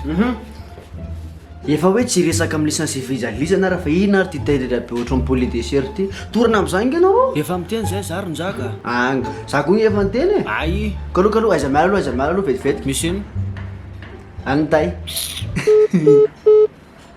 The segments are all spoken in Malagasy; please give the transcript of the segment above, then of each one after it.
Hum Efa hoe tsy resaka amin'ny licence fijalizana ary fa inona ary ty tendrendra be ohatran'ny poulet de chair ty. Torana amin'izay ange ianao ô. Efa miteny zay za ry njaka. Anga, za koa efa niteny e. Ay. Kalo kalo aiza miala aloha aiza miala aloha vetivety. Misy inona? An'i tay.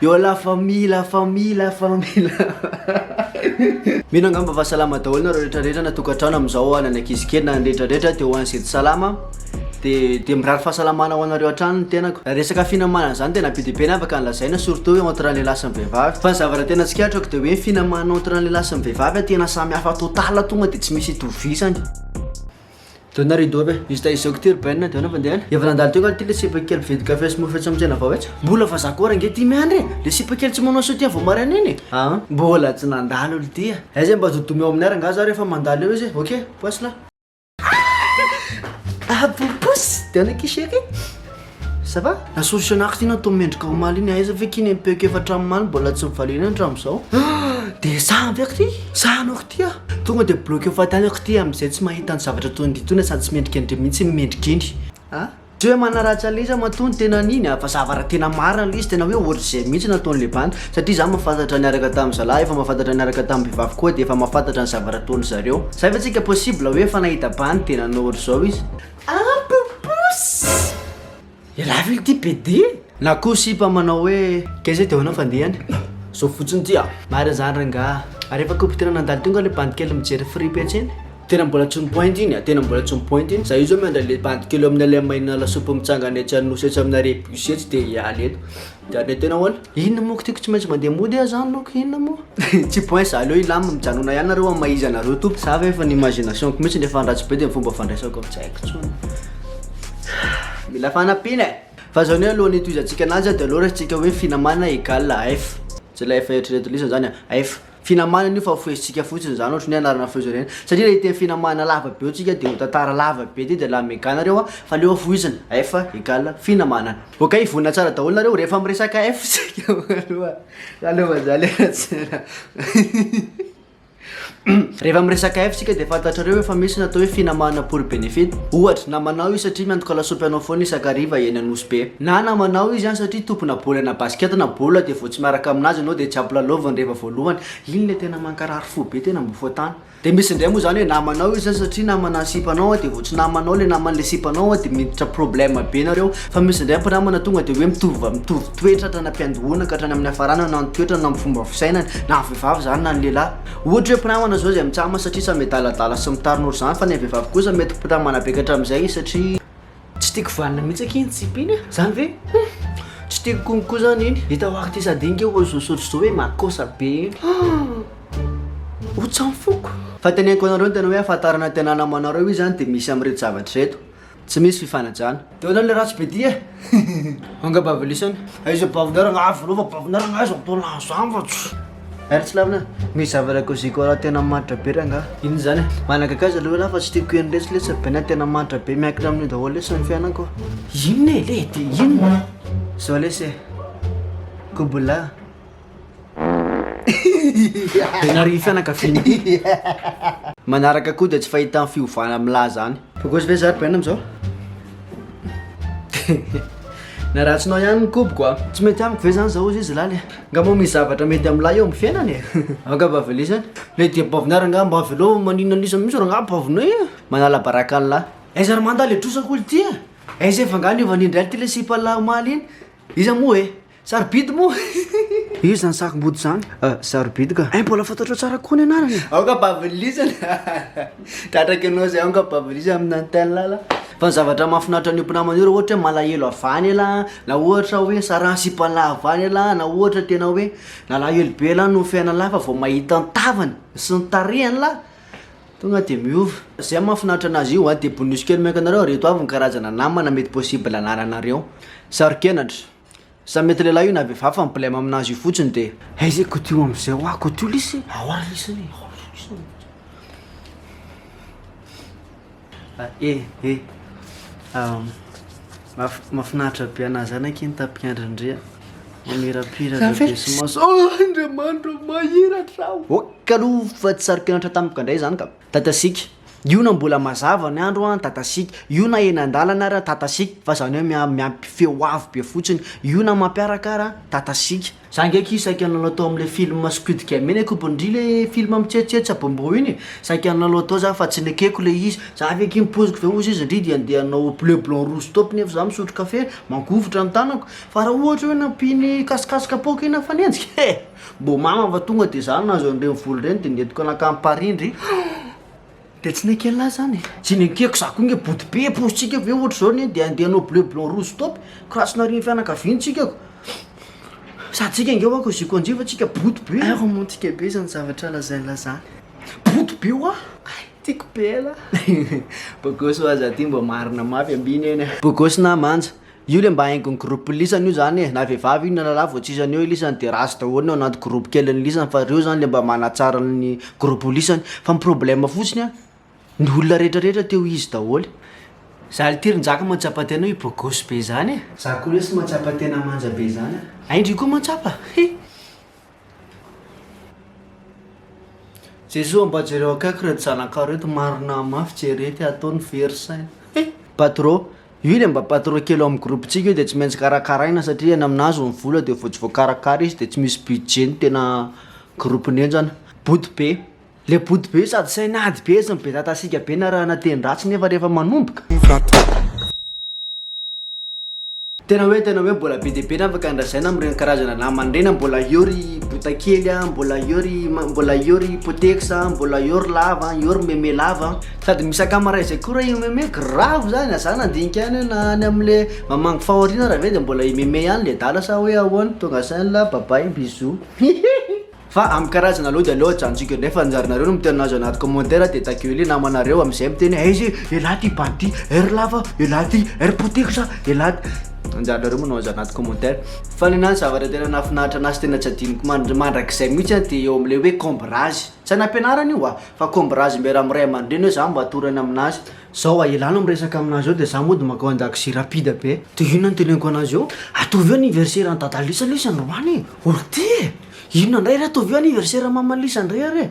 Yo la famille la famille la famille la famille. Mino angamba fa salama daholo nareo rehetra rehetra na tokantrano amin'izao ho an'ny ankizy kely na ny rehetra rehetra de ho an'ny zety salama de de mirary fahasalamana ho anareo hatrany ny tenako raha resaka finamana zany tena be de be ny afaka ny lazaina surtout eo entre ny lehilahy sy ny vehivavy fa ny zavatra tena tsikaritro de hoe ny finamana entre ny lehilahy sy ny vehivavy tena samy hafa total tonga de tsy misy itovisany Dona rideau aby e. Juste izao k'ity ry Ben dia anao fandehana. Efa nandalo teo angaha ity le sipa kely mpividy kafe sy mofo etsy amin'ny tsena vao etsy? Mbola fa zato ora ange ty miandry e! Le sipa kely tsy manao soutien vao maraina iny e! Aa mbola tsy nandalo olo ty a! Aiza mba zodomy ao amin'ny ara angaha za rehefa mandalo eo izy e! Ok! Poissy lah! Aah! Abou poussy! Dia anao k'isheky? Ça va? La solution ax iny atao mendrika omaly iny aiza ve k'iny empeoko efatra amin'ny maly mbola tsy mivalena iny hatramin'izao? Dia sahy ve k'ity? Sahy anao k'ity ah! Tonga dia bloqueo fahatany aho k'ity amin'izay tsy mahita ny zavatra toy ny ditona sady tsy mendrika indry mihitsy ny mendrika iny a! Tsy hoe manaratsy an'ilay izy aho matoa ny tena an'iny a! Fa ça va raha tena marina ilay izy tena hoe ohatr'izay mihitsy no ataon'ilay bandy satria izaho mahafantatra niaraka tamin'ny zalahy efa mahafantatra niaraka tamin'ny vehivavy koa dia efa mahafantatra ny zavatra ataon'izareo. Zay ve tsika possible hoe efa nahita bandy dia nanao ohatr'izao izy? Un peu plus! Ialahy ve ity pede? Na koa sipa manao hoe keza eo dia ahoana fandehany? Zao fotsiny ity a! Marina zany rangah! Ary efa koa tena nandalo teo nga le bandy kely mijery fripy etsy iny? Tena mbola tsy mipointy iny a! Tena mbola tsy mipointy iny! Za io zao miandry anle bandy kely eo amin'ny le maina lasopy mitsangana etsy an'nosy etsy amina rebus etsy dia hiala eny! Dia le tena hoala? Inona moa ko ty ko tsy maintsy mandeha mody ah zany loko inona moa? Tsy point za aleo hilamina mijanona ihany nareo amin'ny maha izy anareo tompoko. Za ve efa ny imagination ko mitsy rehefa andratsy be de ny fomba fandraisako tsy haiko tsony. Mila fanampiana eh! Fa zany hoe alohan'ny hitohizantsika ananjy dia aleo raisintsika hoe finamana égale F. Tsy ilay F eritreretin'ny lisany zany an! F. Finamana anio fa foezintsika fotsiny izany ohatry ny hoe anarana foezo ireny satria raha hiteny finamana lava be hoy tsika dia ho tantara lava be dia dia la mega nareo a fa aleo foizina F egal finamana. Ok vonona tsara daholo nareo rehefa miresaka F tsika aloha za aloha fa za le ratsera rehefa miresaka F tsika dia fantatrareo efa misy natao hoe finamana pour benefit ohatra namanao izy satria miantoka lasopy anao foana isakariva eny anosy be na namanao izy any satria tompona baolina basket na baolina dia tsy miaraka aminazy ianao dia tsy ampilalaoviny rehefa voalohany, iny le tena mankarary fo be tena mbo foatany. Dia misy indray moa izany hoe namanao izy satria namana ny sipanao dia vao tsy namanao le naman'le sipanao dia miditra problème be nareo, fa misy indray mpinamana tonga dia hoe mitovy va- mitovy toetra hatrany am-piandohana ka hatrany amin'ny hafarana na ny toetrany na ny fomba fisainany na vehivavy izany na ny lehilahy, ohatra hoe mpinamana izao izay mitsama satria samy adaladala sy mitarnora izany fa ilay vehivavy kosa mety mpinamana be ka hatramin'izay izy satria. Tsy tiako vanona mihitsy akia iny tsipy iny a! Zany ve? Hum! Tsy tiako konko koa zany iny. Hitako ary ty sady iny kay ohatry zao sotro zao hoe makosa be iny. Hum! Ho tsy amin'ny foko. Fateneniko anareo ny tena hoe ahafantarana tena namanareo io zany dia misy amin'ireto zavatra ireto. Tsy misy fifanajana. Teo zany le ratsy be ty e! Angamba avy lisany. Aiza bavinaragna avy anao fa bavinaragna aiza mbola azafats. Ary tsy lavina, misy zavatra koziko raha tena manitra be rangaha. Inona izany? Managagaza ilay hoe lahy fa tsy tiako hihaino lesy lesy be na tena manitra be miankina amin'io daholo lesy ny fiainako. Inona e le de inona? Zao lesy e. Kobola. Be narihy fianakaviana ity. Manaraka koa dia tsy fahita ny fiovana amin'ilay zany. Bogosy ve za ry Ben amin'izao? Na ratsinao ihany ny koboko a. Tsy mety amiko ve zany zao ozy izy laly e? Nga moa misy zavatra mety amin'ny lahy eo amin'ny fiainany e? Angamba veleo izany. Le dia baovina ary angamba mba avelao maninona an'isa mihitsy rô nga baovina e? Manala baraka an'i lahy. Aiza ry manda le trosako olo ty e? Aiza efa nga niova ny indray ty le sipan'lahy omaly iny? Iza moa e? Sarobidy moa? Iza zany sarombody zany? Ah, sarobidy ka. Eh, mbola fantatrao tsara kokoa ny anarany. Aoka bavilisan. Tratraka ianao zay aoka bavilisan amina ny tel ala. Fa ny zavatra mahafinaritra ny mpinamana io raha ohatra hoe malahelo avy any ela, na ohatra hoe sarany sipa lahy avy any ela, na ohatra tena hoe nalahelo be lahy noho ny fiainany lahy fa vao mahita ny tavany sy ny tarehany lahy tonga de miova. Zay mahafinaritra anazy io an, de bonus kely maika anareo reto avy ny karazana namana mety possible anananareo. Saro-kenatra. Sa mety lehilahy io na vehivavy fa ny blem aminazy io fotsiny de. Aiza e Koto io amzay hoa Koto io lesy e. Ao ary lesy anie ao ary lesy anie. E e mafinaritra be anah zany aky ny tapik' andry ndry a mamirapiratra be sy maso oh Andriamanitra oh mahiratra aho ok aloha fa tsy saro-kenatra tamiko ka ndray zany ka. Tatasika, Io na mbola mazava ny andro an, tatasika, io na eny an-dalana ary an, tatasika, fa zany hoe mia- miampy feo avo be fotsiny, io na mampiaraka ary an, tatasika. Za nge k'io saika nanao tao amle film squid game iny akobo ndry le film mitsetsetse abomboo iny e, saika nanao tao za fa tsy nekeko le izy, za ve k'iny poziko ve ozy izy ndry dia ndeha hanao bleu blanc rouge stop nefa za misotro kafe mangovitra ny tanako, fa raha ohatra hoe nampiany kasokasoka poaka iny aho mifanenjika eh! Mbô mama fa tonga de za nahazo an'ireny vola ireny de nentiko nankany Parindry de tsy nenken'lah zany e. Tsy nenkeko za koa nge body be paositsika ve ohatra zao ne de handeha hanao bleu blanc rouge stop ko raha tsy narian'ny fianakaviany tsika ko sady tsika nge hoa koziko anjy fa tsika body be. Ay romantika be zany zavatra lazain'lah zany. Body be hoa. Ay tiako be elah. Bogosy hoa za ty mba marina mafy ambiny eny. Bogosy na manja. Io le mba haingon'ny groupe lisany io zany e, na vehivavy io na lalah vao tsy izy any eo lisany de ratsy daholo ny ao anaty groupe kelin'ny lisany fa reo zany le mba manatsara ny groupe lisany fa ny problème fotsiny an ny olona retraretra te ho izy daholo. Za lty ry njaka mahatsapa tena hoe bogosy be zany e. Za koa lesy mahatsapa tena manja be zany an. Aindry koa mahatsapa, he. Jesoa mba jereo akaiky reto zanakao reto marina mafy jere ty ataony very saina eh! Patro, io le mba patro kely ao amin'ny groupe-tsika io de tsy maintsy karakaraina satria any aminazy ny vola de vao tsy voakarakara izy de tsy misy budget ny tena groupe-ny henjana, bodobe. Le body be sady saina ady be sy mibetatasiaka be na rahana teny ratsy nefa rehefa manomboka. Tena hoe tena hoe mbola be dia be ny afaka andrasaina amin'ireny karazana namana ireny a, mbola eo ry botakely a, mbola eo ry ma- mbola eo ry potex a, mbola eo ry lava, eo ry meme lava a, sady misy akamaray zay koa r'e meme grave zany a, za nandinika ihany hoe na any amle mamangy fahoriana ary ve de mbola i meme ihany le adala sa hoe ahoana, tonga saina, bye bye, bisous, hihihi. Fa amin'ny karazana aloha dia aleo ajanjiko indray fa anjaranareo no miteny an'azy ao anaty commentaire dia ta gueuler namanareo amin'izay miteny hoe aiza e elah ty bandy ty air lava elah ty air potex a elah ty anjaranareo manao an'izany anaty commentaire fa ny anahy ny zavatra tena nahafinaritra anahy sy tena tsy adinoko mandr- mandrakizay mihitsy a dia eo amin'ilay hoe combraz tsy any am-pianarana io a fa combraz miara amin'ny ray aman-dreny hoe za mba atorany aminazy zao a elah no miresaka aminazy eo dia za mody mankao an-dakozia rapide be dia inona no teneniko anazy eo ataovy eo anniversaire an'i dada lesy aloha izy androany e orty e! Inona ndray re ataovy io anniversaire maman Lisa ndray ary e.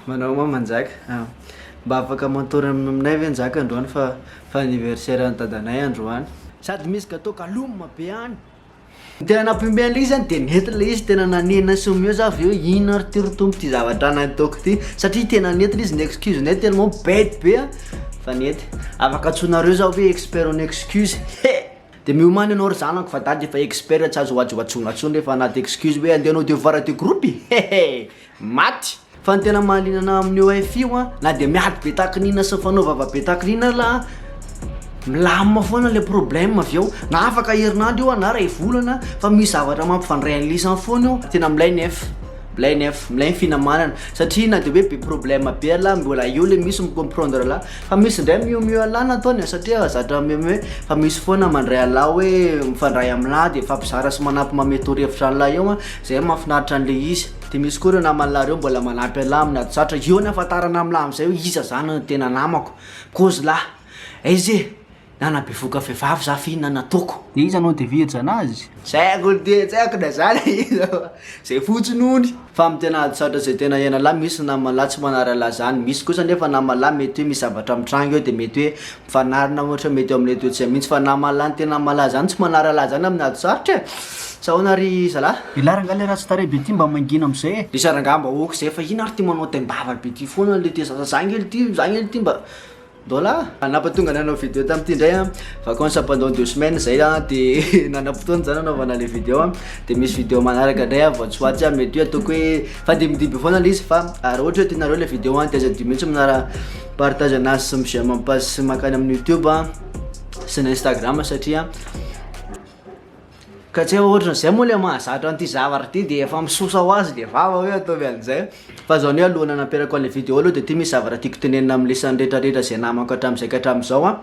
Manao moa Manjaka, mba afaka mantora aminay ve Njaka androany fa. Fa anniversaire an'i dadanay androany. Sady misy gateau galum be any. Ny tena nampiomehy an'ilay izy zany dia nety ilay izy tena nanenina sy omeo za avy eo inona ary ty ry Tompo ty zavatra nataoko ty satria tena nety ilay izy ny excuse nay tellement bête be a fa nety. Afaka antsoinareo za hoe expert en excuse he! Dia miomana ianao ry zanako fa dada efa expert tsy azo hoajy hoajona intsony rehefa anaty excuse hoe andeha hanao devoir de groupe e he he! Maty! Fa ny tena mahaliana anahy amin'io wifi io an, na dia miady be tahaka ny inona sy mifanao vava be tahaka ny inona ary an, milamina foana ilay problème avy eo, na afaka herinandro io an, na iray volana fa misy zavatra mampifandray an'ilay izy any foana eo, tena milay nef, milay nef, milay ny finamanana satria na dia hoe be problème be ialahy mbola eo ilay misy mi-comprendre anahy, fa misy ndray mihoa mihoa anahy ny ataony satria zatra mihomehy, fa misy foana mandray anahy hoe mifandray aminahy de mifampizara sy manampy manome torohevitra an'ilay eo an, zay mahafinaritra an'ilay izy. Dia misy koa ireo naman'lah ireo mbola manampy an'lah amin'ny ady sarotra, eo ny hahafantarana amin'lah amin'izay hoe iza izany no tena namako, kozy lah, aiza e! na nabevohoka vehivavy za fe inona no ataoko? Dia iza no dia virjana azy? Tsy haiko ny tena, tsy haiko na za na iza fa zay fotsiny hono. Fa amin'ny tena ady sarotra izay tena iainan'lah misy ny naman'lah tsy manary an'lah izany, misy kosa anefa naman'lah mety hoe misy zavatra mitranga eo dia mety hoe, Fanarina ohatra mety eo amin'ilay toetsia mihitsy fa na mahalany tena malaza any tsy manaralaza any amin'ny ady sarotra e! Sa ahoana ary zalah? Ilah rangah le ratsy tarehy be ty mba mangina amizay e. Iza rangah mba ok zay fa ino ary ty manao taimbava be ty foana le te zaza zah ngely ty zah ngely ty mba Mbola. Nampatonga anay hanao video tamty indray an, vacance pendant deux semaines zay an de nanam-potoana zah nanaovana le video an, de misy video manaraka ndray an vao tsy ho atsy an mety hoe ataoko hoe fandimbidiby foana le izy fa raha ohatra hoe tianareo le video an de aza adio mihitsy manara Partage anazy sy mi j'aime page sy makany amin'ny youtube sy ny instagram satria ka tsy eo ohatran zay moa le mahazatra an'ity zavatra ty de efa misosa ho azy le vava hoe ataovy an'zay fa zao anie alohan'ny hanaperako an'le video aloha de ty misy zavatra tiako tenenina amin'ny lisany retraretra zay namako hatram'zay ka hatram'zao an.